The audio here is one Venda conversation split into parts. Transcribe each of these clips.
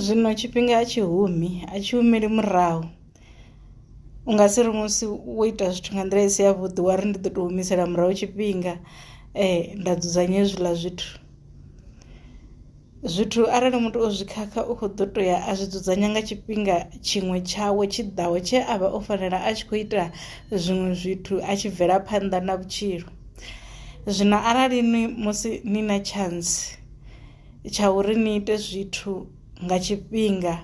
Zwino tshifhinga a tshi humi a tshi humeli murahu u nga si ri musi wo ita zwithu nga nḓila i si ya vhuḓi wa ri ndi ḓo to humisela murahu tshifhinga nda dzudzanya hezwiḽa zwithu. Zwithu arali muthu o zwi khakha u kho ḓo to ya a zwi dzudzanya nga tshifhinga tshiṅwe tshawe tshi ḓaho tshe a vha o fanela a tshi kho ita zwiṅwe zwithu a tshi bvela phanḓa na vhutshilo zwino arali ni musi ni na tshantsi. tsha uri ni ite zwithu nga tshifhinga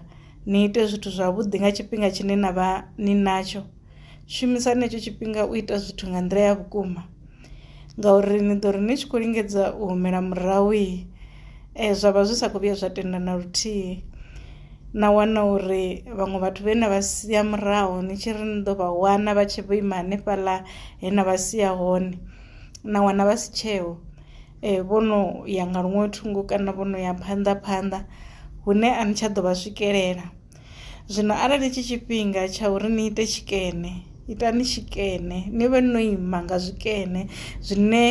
ni ite zwithu zwavhuḓi nga tshifhinga tshine na vha ni natsho shumisani hetsho tshifhinga u ita zwithu nga nḓila ya vhukuma ngauri ni ḓo ri ni tshi khou lingedza u humela murahu zwa vha zwi sa khou vhuya zwa tenda na luthihi na wana uri vhaṅwe vhathu vhe na vha sia murahu ni tshi ri ni ḓo vha wana vha tshi vho ima hanefhaḽa he na vha sia hone na wana vha si tsheho. vho no ya nga luṅwe thungo kana vho no ya phanḓa phanḓa hune a ni tsha ḓo vha swikelela zwino arali tshi tshifhinga tsha uri ni ite tshikene itani tshikene ni vhe no ima nga zwikene zwine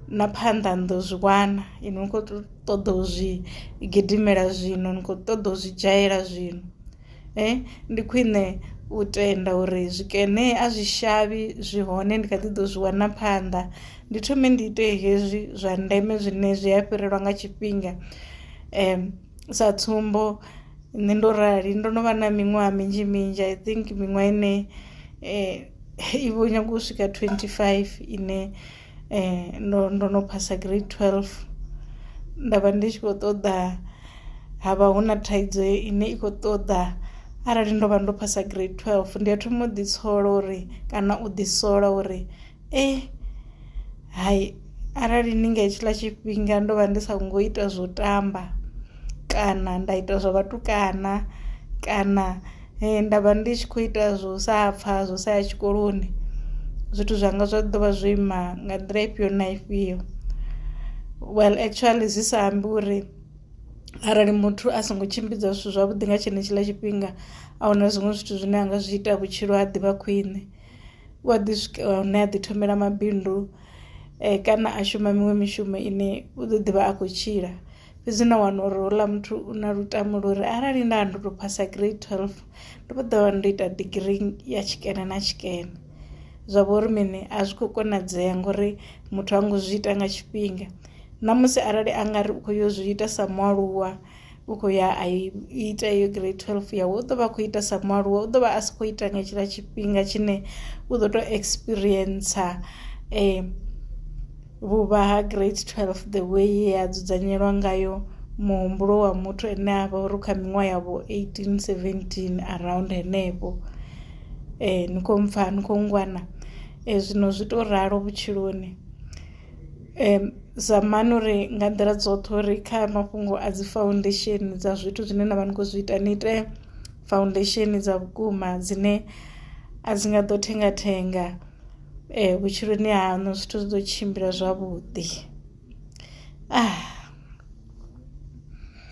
na phanḓa ni ḓo zwi wana inwi ni kho ṱoḓa u zwi gidimela zwino ni kho ṱoḓa u zwi dzhayela zwino. ndi khwine u tenda uri zwikene a zwi shavhi zwi hone ndi kha ḓi ḓo zwi wana phanḓa ndi thome ndi ite hezwi zwa ndeme zwine zwi a fhirelwa nga tshifhinga sa tsumbo nṋe ndo rali ndo no vha na miṅwaha minzhi minzhi i think miṅwaha ine i vho nyaga u swika twenty five ine. ndo ndo no phasa grade twelve nda vha ndi tshi kho ṱoḓa ha vha hu na thaidzo ine i kho ṱoḓa arali ndo vha ndo phasa grade twelve ndi a thoma u ḓi tshola uri kana u ḓi sola uri eh hai arali ni nga hetshiḽa tshifhinga ndo vha ndi sa ngo ita zwo tamba kana nda ita zwa vhatukana kana Ee nda vha ndi tshi kho ita zwo sa pfha zwo sa ya tshikoloni zwithu zwanga zwa ḓo vha zwo ima nga nḓila ifhio na ifhio well actually zwi sa ambi uri arali muthu a songo tshimbidza zwithu zwavhuḓi nga tshenetshiḽa tshifhinga ahuna zwiṅwe zwithu zwine a nga zwi ita vhutshilo ha ḓivha khwiṋe u a ḓi swika hune a ḓi thomela mabindu kana a shuma miṅwe mishumo ine u ḓo ḓivha a khou tshila. fhedzi nda wana uri houḽa muthu u na lutamo lwa uri arali nda ndo tou phasa grade twelve ndo vha ḓo vha ndo ita digirii ya tshikene na tshikene zwa vha uri mini a zwi khou konadzea ngori muthu ha ngo zwi ita nga tshifhinga na musi arali a nga ri u khou yo zwi ita sa mualuwa u khou ya a ita iyo grade twelve yawe u ḓo vha a khou ita sa mualuwa u ḓo vha a si khou ita nga hetshiḽa tshifhinga tshine u ḓo tou experience um Vhuvha ha Grade 12 The way ye ha dzudzanyelwa ngayo muhumbulo wa muthu ene a vha uri kha miṅwaha ya vho 18 17 around henefho eh ni khou mpfha ni khou ngwana eh zwino zwi to ralo vhutshiloni um zamani uri nga nḓila dzoṱhe uri kha mafhungo a dzi foundation dza zwithu zwine na vha ni khou zwi ita ni ite foundation dza vhukuma dzine a dzi nga ḓo thenga thenga ee vhutshiloni haṋu zwithu zwi ḓo tshimbila zwavhuḓi .